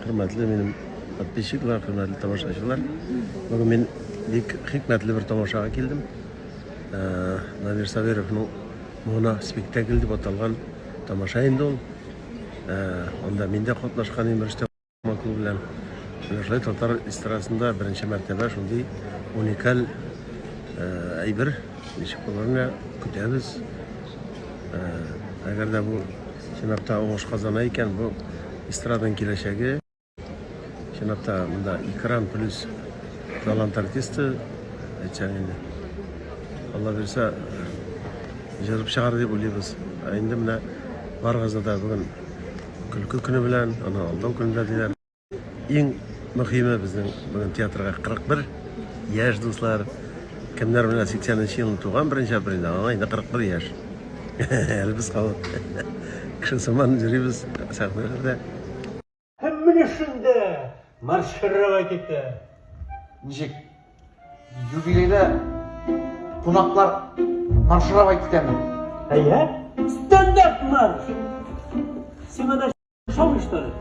Хөрмәтле минем подписчиклар, хөрмәтле тамашачылар. Бүген мин бик хикмәтле бер тамашага килдем. Э, Намир Сабировның Мона спектакль дип аталган тамаша инде ул. Э, анда мин дә катнашкан идем Рөстәм Маклу белән. Шулай татар эстрадасында беренче мәртәбә шундый уникаль э, әйбер ничек булырына көтәбез. Әгәр дә бу чынлапта уңыш казана икән, бу эстраданың киләчәге. Чынлапта монда экран плюс талант артисты әйтсәң инде. Алла бирсә, җырып чыгар дип уйлыйбыз. Ә инде менә барыгызны да бүген көлке көне белән, аны алдау көнендә диләр. Иң мөхиме безнең бүген театрга 41 яшь дуслар. Кемнәр белән 80 нче елны туган беренче апрельдә, аңа инде 41 яшь. Әле без халык. Кеше сыман йөрибез сәхнәләрдә. Һәм менә шунда маршировать китә. Ничек? Юбилейда кунаклар маршировать китәме? Әйе. Стандарт марш. Симона Шаулый, что ли?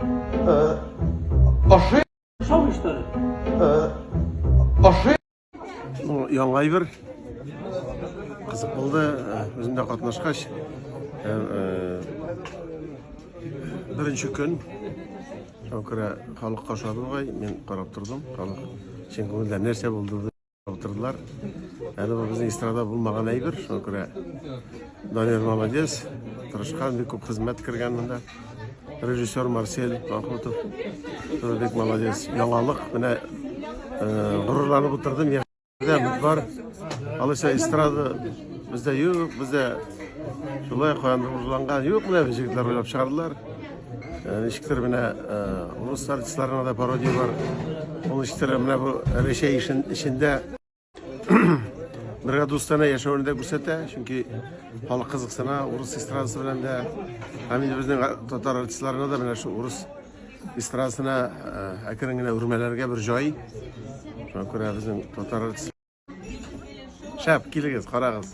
Э, Аши. Шаулый, что ли? Э, Аши. Ну, яңа әйбер. Кызык булды. Э, Үзем дә катнашкач. Э, э, Беренче көн. Шуңа күрә халык кашады бугай. Мин карап тордым. Халык чын күңелдән нәрсә булды? Утырдылар. Әле бу безнең эстрада булмаган әйбер, шуңа күрә Данир молодец, тырышкан, бик күп хезмәт кергән монда. Режиссер Марсель Махмутов, тоже бик молодец. Яңалык, менә э, горурланып утырдым, яхшыда бар. Алайса эстрада бездә юк, бездә шулай куандырылган юк, менә җегетләр уйлап чыгардылар. Э, ничектер менә э, урыс артистларына да пародия бар ул ничектер менә бу рәсәй эчендә бергә дустана яшәвен дә күрсәтә чөнки халык кызыксына урыс эстрадасы белән дә һәм инде безнең татар артистларына да менә шул урыс эстрадасына э, әкрен генә үрмәләргә бер җай шуңа күрә безнең татар артистлары шәп килегез карагыз